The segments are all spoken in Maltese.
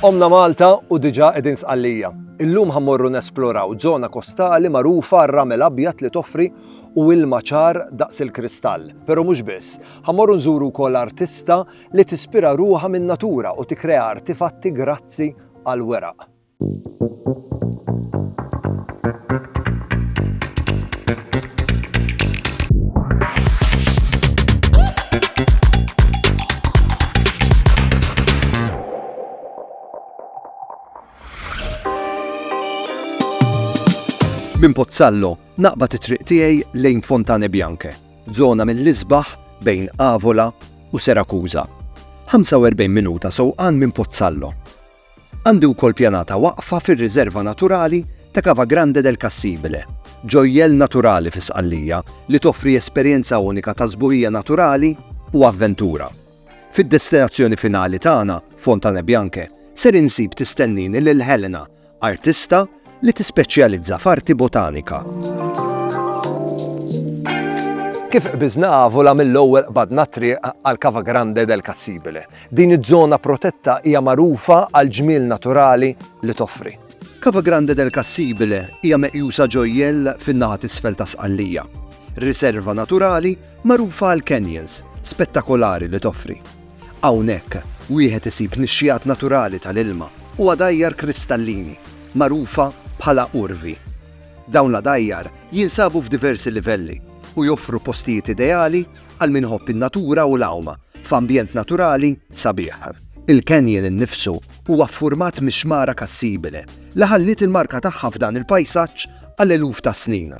Qomna Malta u diġà qegħdin Sqallija. Illum ħa mmorru nesploraw żona kostali magħrufa għar-ramel abjad li toffri u ilma ċar daqs il-kristall. Però mhux biss, ħa mmorru nżuru wkoll artista li tispira ruħha min-natura u tikkrea artifatti grazzi għall-weraq. Minn Pozzallo naqbad it-triq tiegħi lejn Fontane Bianche, żona mill-isbaħ bejn Avola u Serakuża. 45 minuta sewqan minn Pozzallo Għandi wkoll pjanata waqfa fir-Riserva Naturali ta' Cava Grande del Cassibile, ġojjell naturali fi Sqallija li toffri esperjenza unika ta' sbuħija naturali u avventura. Fid-destinazzjoni finali tagħna, Fontane Bianche, ser insib tistennini lil Helena, artista, li tispeċjalizza f'arti botanika. Kif qbiżna Avola mill-ewwel qbadna t-triq għal Cava Grande del Cassibile. Din iż-żona protetta hija magħrufa għal ġmiel naturali li toffri. Cava Grande del Cassibile hija meqjusa ġojjell fin-naħa t'isfel ta' Sqallija. Riserva naturali magħrufa għall-canyons spettakolari li toffri. Hawnhekk, wieħed isib nixxigħat naturali tal-ilma u għadajjar kristallini, magħrufa bħala urvi. Dawn l-għadajjar jinsabu f'diversi livelli u joffru postijiet ideali għal min iħobb in-natura u l-għawma f'ambjent naturali sabiħ. Il-canyon innifsu huwa ffurmat mix-xmara Cassibile, li ħalliet il-marka tagħha f'dan il-pajsaġġ għal eluf ta' snin.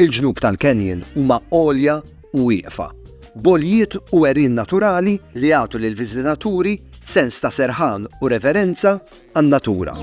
Il-ġnub tal-canyon huma għolja u wieqfa, b'għoljiet u għerien naturali li jagħtu lill-viżitaturi sens ta' serħan u reverenza għan-natura.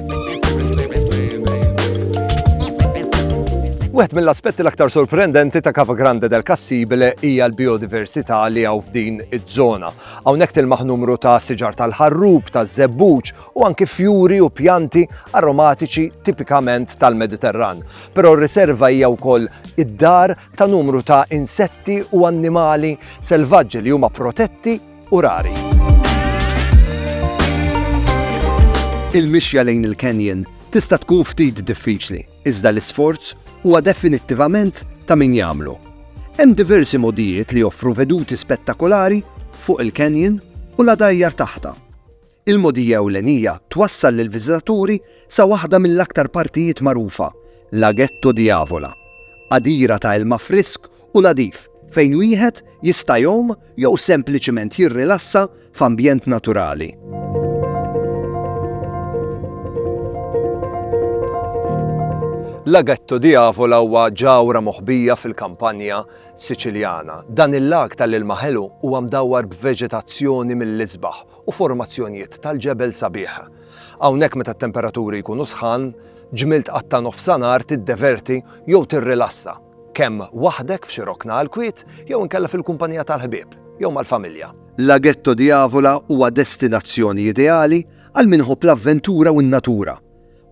Wieħed mill-aspetti l-aktar sorprendenti ta' Cava Grande del Cassibile hija l-biodiversità li hawn f'din iż-żona. Hawnhekk tilmaħ numru ta' siġar tal-ħarrub, taż-żebbuġ u anki fjuri u pjanti aromatiċi tipikament tal-Mediterran. però r-riserva hija wkoll id-dar ta' numru ta' insetti u annimali selvaġġi li huma protetti u rari. Il-mixja lejn il-canyon tista' tkun ftit diffiċli, iżda l-isforz huwa definittivament ta' min jagħmlu. Hemm diversi modijiet li joffru veduti spettakolari fuq il-canyon u l-għadajjar taħta. Il-mogħdija ewlenija twassal lill-viżitaturi sa waħda mill-aktar partijiet magħrufa, Laghetto di Avola, għadira ta' ilma frisk u nadif fejn wieħed jista' jgħum jew sempliċement jirrilassa f'ambjent naturali. Laghetto di Avola huwa ġawra moħbija fil-kampanja Siċiljana. Dan il-lag tal-ilma ħelu huwa mdawwar b'veġetazzjoni mill-isbaħ u formazzjonijiet tal-ġebel sabiħ. Hawnhekk meta t-temperaturi jkunu sħan, ġmiel tqatta' nofsanhar tiddeverti jew tirrilassa, kemm waħdek f'xi rokna għall-kwiet jew inkella fil-kumpanija tal-ħbieb jew mal-familja. Laghetto di Avola huwa destinazzjoni ideali għal min iħobb l-avventura u n-natura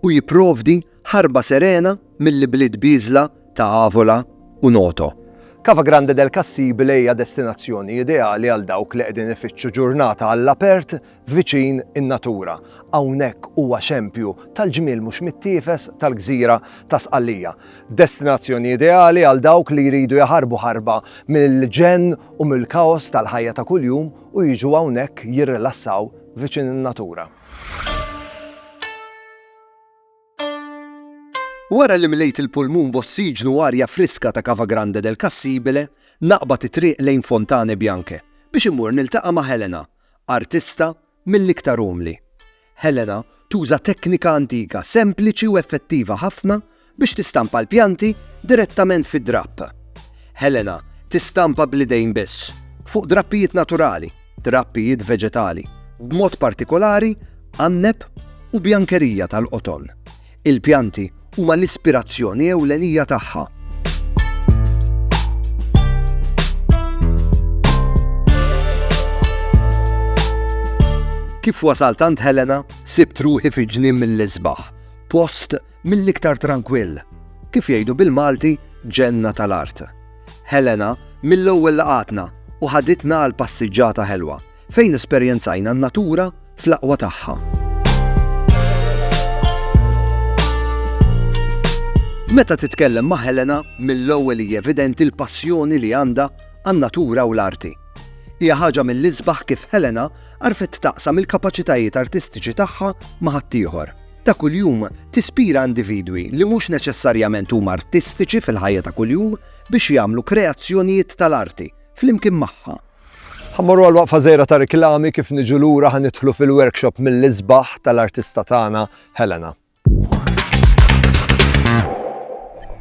u jipprovdi Ħarba serena mill-ibliet bieżla ta' Avola u Noto. Cava Grande del Cassibile hija destinazzjoni ideali għal dawk li qegħdin ifittxu ġurnata għall-apert viċin in-natura. Hawnhekk huwa xempju tal-ġmiel mhux mittiefes tal-gżira ta' Sqallija. Destinazzjoni ideali għal dawk li jridu jaħarbu ħarba mill-ġenn u mill-kaos tal-ħajja ta' kuljum u jiġu hawnhekk jirrilassaw viċin in-natura. Wara li mlejt il-pulmun b'ossiġnu u arja friska ta' Cava Grande del Cassibile, naqbad it-triq lejn Fontane Bianche biex immur niltaqa' ma' Helena, artista mill-iktar umli. Helena tuża teknika antika sempliċi u effettiva ħafna biex tistampa l-pjanti direttament fid-drapp. Helena tistampa bl-idejn biss, fuq drappijiet naturali. trappijiet veġetali, b'mod partikolari għanneb u bjankerija tal-qoton. Il-pjanti huma l-ispirazzjoni ewlenija tagħha. Kif wasalt għand Helena, sibt ruħi fi ġnien mill-isbaħ, post Mill-iktar trankwill, kif jgħidu bil-Malti, ġenna tal-art. Helena mill-ewwel laqgħatna u ħaditna għal passiġġata ħelwa fejn esperjenzajna n-natura fl-aqwa tagħha. Meta titkellem ma' Helena, mill-ewwel hija evidenti l-passjoni li għandha għan-natura u l-arti. Hija ħaġa mill-isbaħ kif Helena għarfet taqsam il-kapaċitajiet artistiċi tagħha ma' ħaddieħor. ta' kuljum tispira individwi li mhux neċessarjament huma artistiċi fil-ħajja ta' kuljum biex jagħmlu kreazzjonijiet tal-arti flimkien magħha. Ħa mmorru għal waqfa żgħira ta' riklami kif niġu lura ħa nidħlu fil-workshop mill-isbaħ tal-artista tagħna Helena.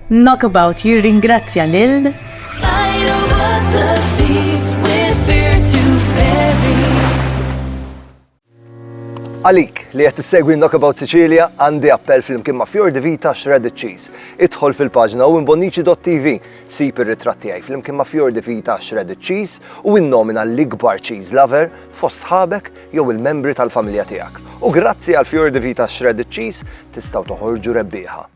Knockabout jirringrazzja lil Għalik li qed tissegwi Knockabout Sicilia għandi appell flimkien ma' Fjor di Vita Shredded Cheese. Idħol fil-paġna u imbonnici.tv sib ir-ritratt tiegħi flimkien ma' Fjor di Vita Shredded Cheese u innomina l-ikbar cheese lover fost sħabek jew il-membri tal-familja tiegħek. U grazzi għal Fjor di Vita Shredded Cheese tistgħu toħorġu rebbieħa.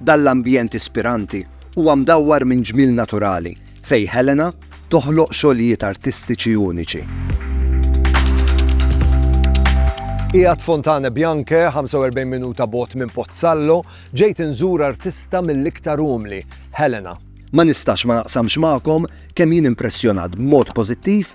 Dan l-ambjent ispiranti huwa mdawwar minn ġmiel naturali fejn Helena toħloq xogħlijiet artistiċi uniċi. Qiegħed Fontane Bianche, 45 minuta bot minn Pozzallo, ġejt inżur artista mill-iktar umli, Helena. Ma nistax ma naqsamx magħkom kemm jien impressjonat b'mod pożittiv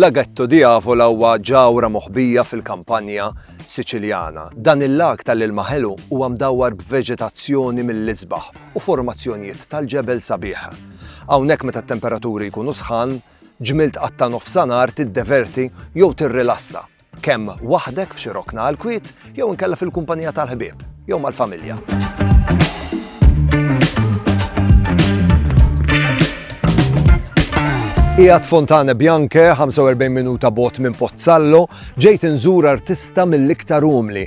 Laghetto di Avola huwa ġawra moħbija fil-kampanja Siċiljana. Dan il-lag tal-ilma ħelu huwa mdawwar b'veġetazzjoni mill-isbaħ u formazzjonijiet tal-ġebel sabiħ. Hawnhekk meta t-temperaturi jkunu sħan, ġmilt qatta nofsanar tiddeverti jew tirrilassa Kemm waħdek f'xi rokna għall-kwiet jew inkella fil-kumpanija tal-ħbieb jew mal-familja. Ijat Fontane Bianche, 45 minuta bot minn Pozzallo, ġejt nżur artista mill-iktar umli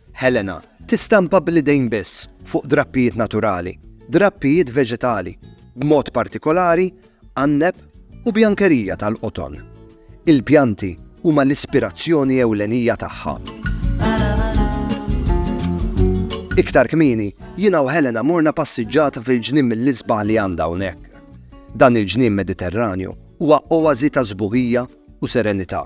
Helena, tistampa bl-idejn biss fuq drappijiet naturali, drappijiet veġetali, b'mod partikolari għanneb u bjankerija tal-qoton. Il-pjanti huma l-ispirazzjoni ewlenija tagħha. Iktar kmieni, jiena u Helena morna passiġġata fil-ġnien mill-isbaħ li għandha hawnhekk. Dan il-ġnien Mediterranju huwa oasi ta' sbuħija u serenità.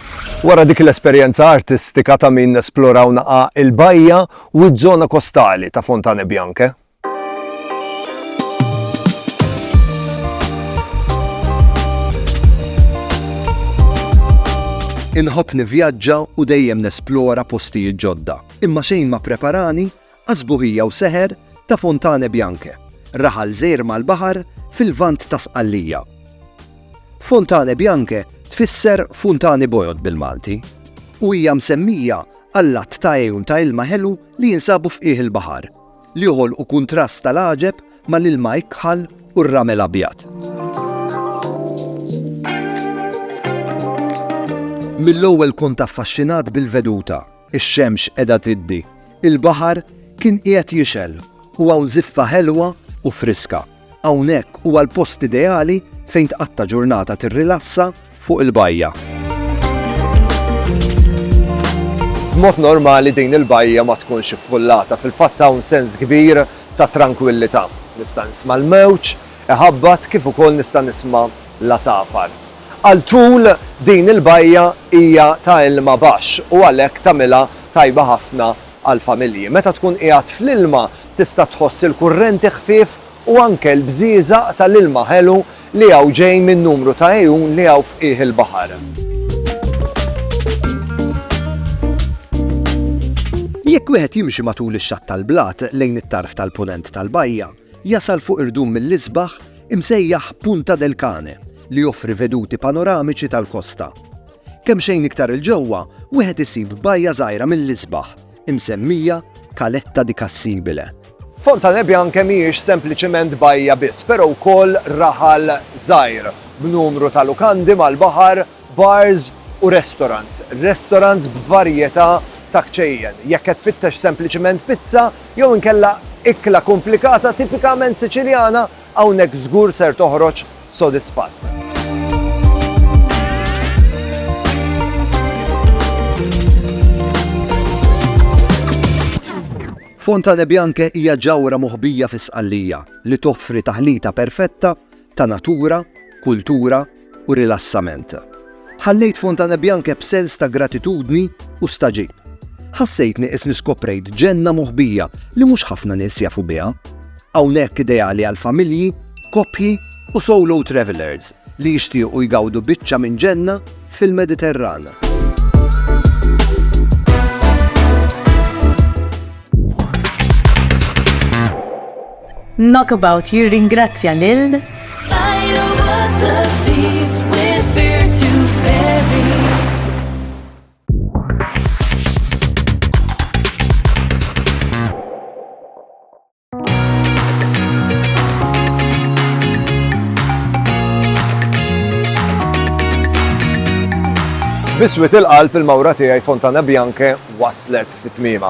Wara dik l-esperjenza artistika ta' min nesplora u naqa' il-bajja u ż-żona kostali ta' Fontane Bianche. Inħobb nivvjaġġa u dejjem nesplora postijiet ġodda, imma xejn ma ppreparani Għas-sbuħija u seħer ta' Fontane Bianche, raħal żgħir mal-baħar fil-Lvant ta' Sqallija. Fontane Bianche tfisser funtani bojod bil-Malti u hija msemmija għall-għadd ta' għejun ta' ilma ħelu li jinsabu f'qiegħ il-baħar, li joħolqu kuntrast tal-għaġeb mal-ilma ikħal u r-ramel abjad. Mill-ewwel kont affaxxinat bil-veduta Ix-xemx qiegħda tiddi. Il-baħar kien qiegħed jixgħel u hawn żiffa ħelwa u friska. Hawnhekk huwa l-post ideali fejn tqatta' ġurnata tirrilassa fuq il-bajja. B'mod normali din il-bajja ma tkunx iffullata. Fil-fatt hawn sens kbir ta' trankwillità. Nista' nisma' l-mewġ iħabbat kif ukoll nista' nisma' l-għasafar. Għal tul din il-bajja hija ta' ilma baxx u għalhekk tagħmilha tajba ħafna għall-familji. Meta tkun qiegħed fl-ilma tista' tħoss il-kurrenti ħfief u anke l-bżieżaq tal-ilma ħelu li hawn ġej minn numru ta' għejun li hawn f'qiegħ il-baħar. Jekk wieħed jimxi matul ix-xatt tal-blat lejn it-tarf tal-Punent tal-bajja, Jasal fuq irdum mill-isbaħ imsejjaħ Punta del Cane li joffri veduti panoramiċi tal-kosta. Kemxejn iktar 'il ġewwa wieħed isib bajja żgħira mill-isbaħ imsemmija Caletta di Cassibile. Fontane Bianche mhijiex sempliċement bajja biss, però wkoll raħal żgħir b'numru ta' lukandi mal-baħar bars u restorants, restorants b'varjetà ta' kċejjen, jekk qed tfittex sempliċiment pizza jew inkella ikla komplikata tipikament Siċiljana, hawnhekk żgur ser toħroġ sodisfatt. Fontane Bianche hija ġawhra moħbija fi Sqallija li toffri taħlita perfetta ta' natura, kultura u rilassament. Ħallejt Fontanebbianche b'sens ta' gratitudni u stagħġib. Ħassejtni qisni skoprejt ġenna moħbija li mhux ħafna nies jafu biha. Hawnhekk ideali għal familji, koppji u solo travelers li jixtiequ jgawdu biċċa minn ġenna fil-Mediterran. Knockabout jirringrazzja lil. Biswit il-qalb il-mawra tiegħi Fontana Bianche waslet fit-tmiema.